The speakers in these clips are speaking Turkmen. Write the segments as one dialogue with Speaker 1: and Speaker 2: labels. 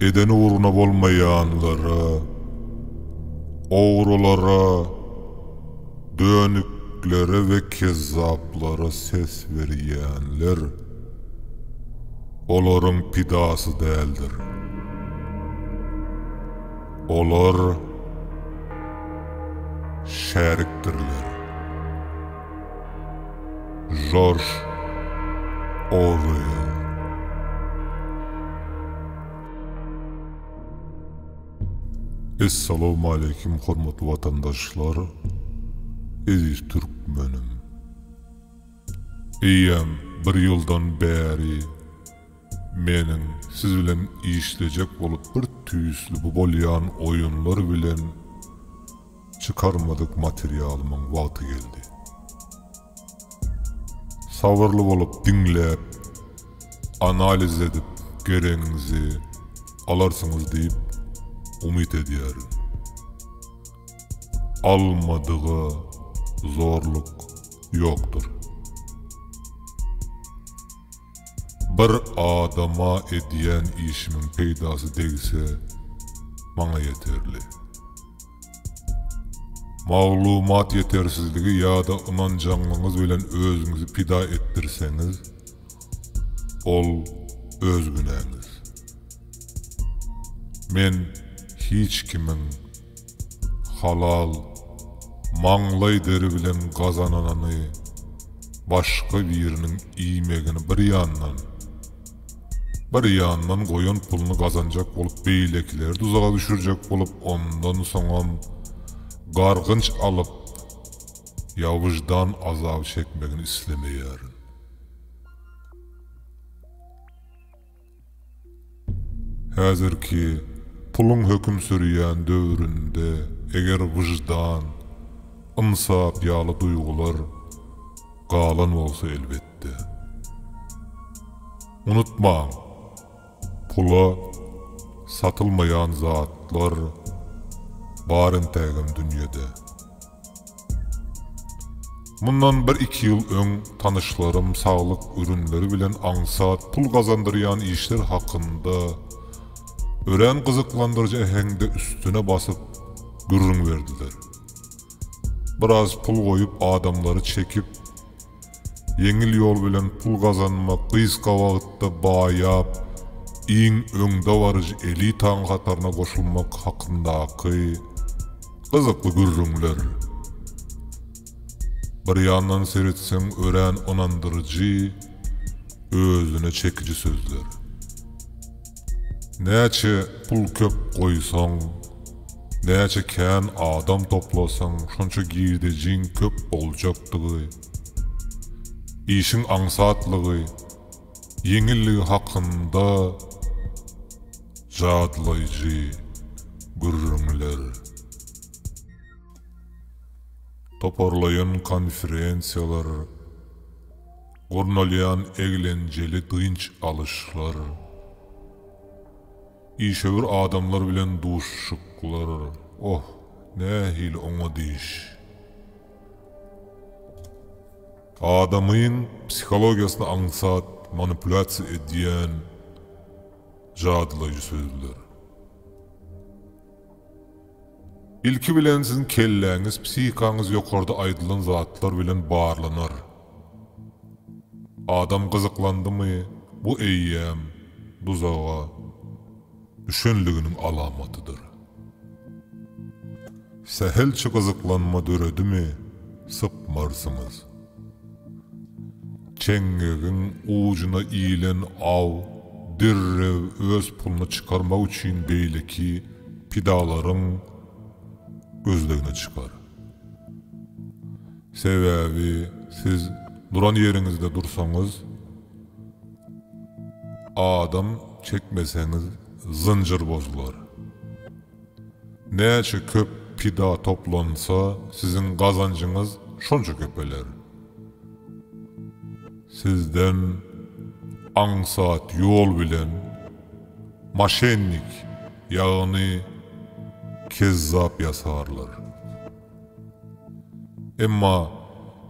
Speaker 1: Eden ugruna bolmaýanlara, ogrulara, dönüklere we kezzaplara ses berýänler olaryň pidasy däldir. Olar şärikdirler. Jorj Orwell. Essalawmaleýkim hormatly watandaşlar, eziz türkmenim. Eýýäm bir ýyldan bäri, Meniň siz bilen işlejek bolup bir tüýsli bu bolýan oýunlar bilen çykarmadyk materialymyň wagty geldi. Sabyrly bolup diňläp, analiz edip geregiňizi alarsyňyz diýip umyt edýärin. Almadyga zorluk ýokdur. Bir adama edýän işimiň peýdasy degse, maňa ýeterli. Maglumat ýetersizligi ýa-da ynanjaňlygyňyz bilen özüňizi pida etdirseňiz, ol öz günäňiz. Men hiç kimiň. Halal, maňlaý deri bilen gazananyny başga biriniň iýmegini bir ýandan, bir ýandan goýan puluny gazanjak bolup beýlekileri duzaga düşürjek bolup ondan soňam gargynç alyp ýa wyždan azaby çekmegini islemeýärin. Häzirki puluň höküm sürýän döwründe eger wyždan, ynsap ýaly duýgular galan bolsa elbetde. Unutmaň, pula satylmaýan zatlar bar entägem dünýede. Mundan bir-iki ýyl öň tanyşlarym saglyk ürünleri bilen aňsat pul gazandyrýan işler hakynda örän gyzyklandyryjy äheňde üstüne basyp gürrüň berdiler. Biraz pul goýup adamlary çekip Ýeňil ýol bilen pul gazanmak gysga wagtda baýap, iň öňdebaryjy elitaň hataryna goşulmak hakyndaky gyzykly gürrüňler. Bir ýandan seretseň örän ynandyryjy, özüne çekiji sözler. Näçe pul köp goýsaň, näçe kän adam toplasaň şonça girdejiň köp boljakdygy, işiň aňsatlygy, ýeňilligi hakynda jadlaýjy gürrüňler, toparlaýyn konferensiýalar, Gurnalýan eglenjeli dynç alyşlar, işewür adamlar bilen duşuşyklar, oh, nähili oňat iş! Adamyň psihologiýasyny aňsat manipulýasiýa edýän jadylaýjy sözler. Ilki bilen siziň kelläňiz, psihikaňyz ýokarda aýdylan zatlar bilen barlanar. Adam gyzyklandymy, bu eýýäm duzaga düşenliginiň alamatydyr. Sähelçe gyzyklanma döredimi, sypmarsyňyz. Çeňňegiň ujuna ilen aw derrew öz puluny çykarmak üçin beýleki pidalaryň gözlegine çykar. Sebäbi siz duran ýeriňizde dursaňyz, adam çekmeseňiz zynjyr bozular. Näçe köp pida toplansa, siziň gazanjyňyz şonça köpeler. Sizden aňsat ýol bilen moşennik, ýagny kezzap ýasarlar. Emma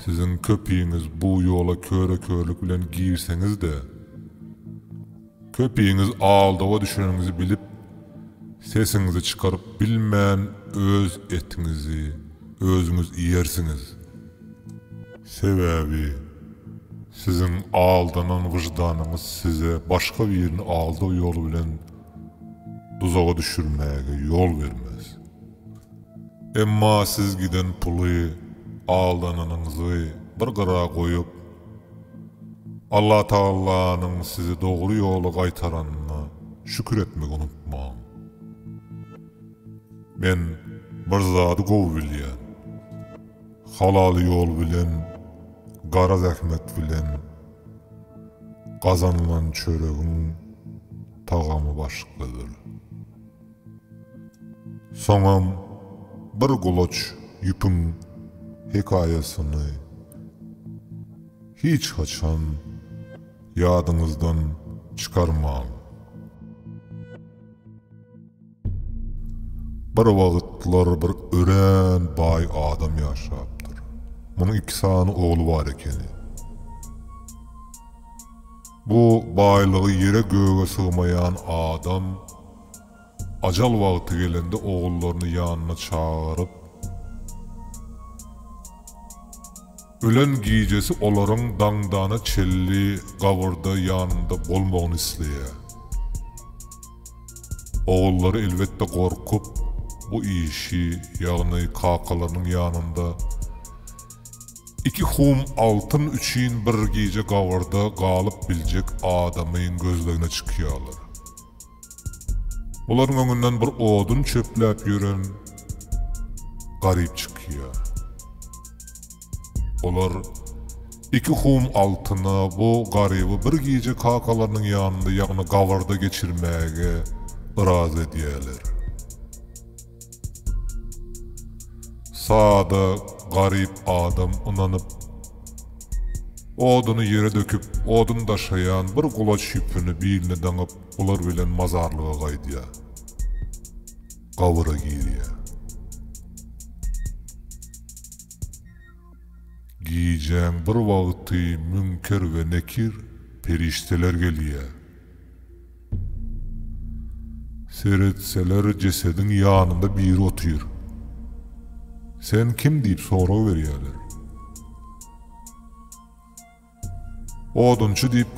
Speaker 1: siziň köpiňiz bu ýola köre-körlük bilen girseňiz-de, Köpiňiz aldawa düşeniňizi bilip sesiňizi çykaryp bilmän öz etiňizi özüňiz iýersiňiz. Sebäbi siziň aldanan wyždanyňyz size başga birini aldaw ýoly bilen duzaga düşürmäge ýol bermez. Emma siz giden puly, aldananyňyzy bir gyra goýup, Allatagallanyň sizi dogry ýola gaýtaranyna şükür etmegi unutmaň. Men bir zady gowy bilýän. Halal ýol bilen, gara zähmet bilen gazanylan çöregiň tagamy başgadyr. Soňam bir gulaç ýüpüň hekaýasyny hiç haçan ýadyňyzdan çykarmaň. Bir wagtlar bir örän baý adam ýaşapdyr. Munuň iki sany ogly bar ekeni. Bu baýlygy ýere-göge sygmaýan adam Ajal wagty gelende ogullaryny ýanyna çagyryp, ölen gijesi olaryň daňdana çenli gabyrda ýanynda bolmagyny isleýär. Ogullary elbetde gorkup, bu işi, ýagny kakalarynyň ýanynda iki hum altyn üçin bir gije gabyrda galyp biljek adamyň gözlegine çykýarlar. Bularyň öňünden bir odun çöpläp ýören Garyp çykýar. Olar iki hum altyna bu Garyby bir gije kakalarynyň ýanynda, ýagny gabyrda geçirmäge yrazy edýärler. Sada, garyp adam ynanyp, oduny ýere döküp, odun daşaýan bir gulaç ýüpüni biline daňyp, bular bilen mazarlyga gaýdýar. Gabyra girýär. Gijäň bir wagty Münker we Nekir perişdeler gelýär. Seretseler jesediň ýanynda biri otyr. Sen kim diýip sorag berýärler. Odunçy diýip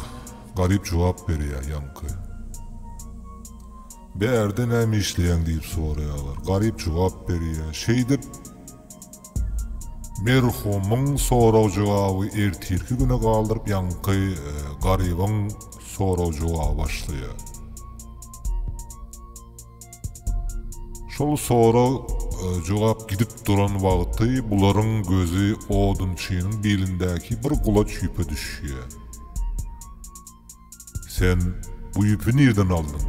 Speaker 1: garyp jogap berýär ýaňky. Bärde näme işleýäň diýip soraýarlar. Garyp jogap berýär. Şeýdip. Merhumyň sorag-jogaby ertirki güne galdyryp ýaňky Garybyň sorag-jogaby başlaýar. Şol sorag jogap gidip duran wagty bularyň gözi odunçynyň bilindäki bir gulaç ýüpe düşýär. Sen bu ýüpi nirden aldyň?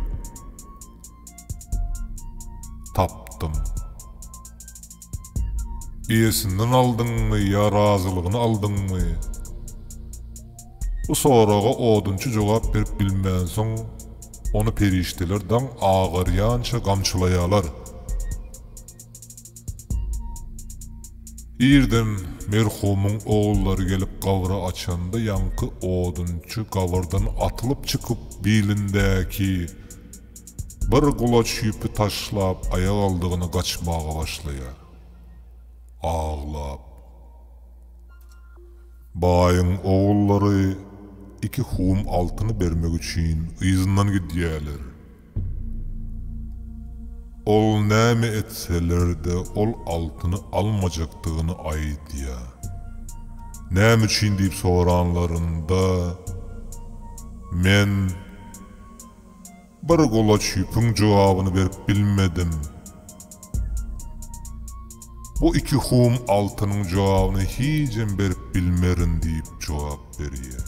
Speaker 1: Tapdym. Eýesinden aldyňmy ýa razylygyny aldyňmy? Bu soraga odunçy jogap berip bilmänsoň, ony perişdeler daň agarýança gamçylaýarlar. Irden merhumyň ogullary gelip gabry açanda ýaňky odunçy gabyrdan atylyp çykyp bilindäki bir gulaç ýüpi taşlap aýagaldygyny gaçmaga başlaýar. Aglap. Baýyň ogullary iki hum altyny bermek üçin yzyndan gidýäler. Ol näme etseler-de ol altyny almajakdygyny aýdýar. Näme üçin diýip soranlarynda, Men bir golaç ýüpüň jogabyny berip bilmedim. Bu iki hum altynyň jogabyny hijem berip bilmerin diýip jogap berýär.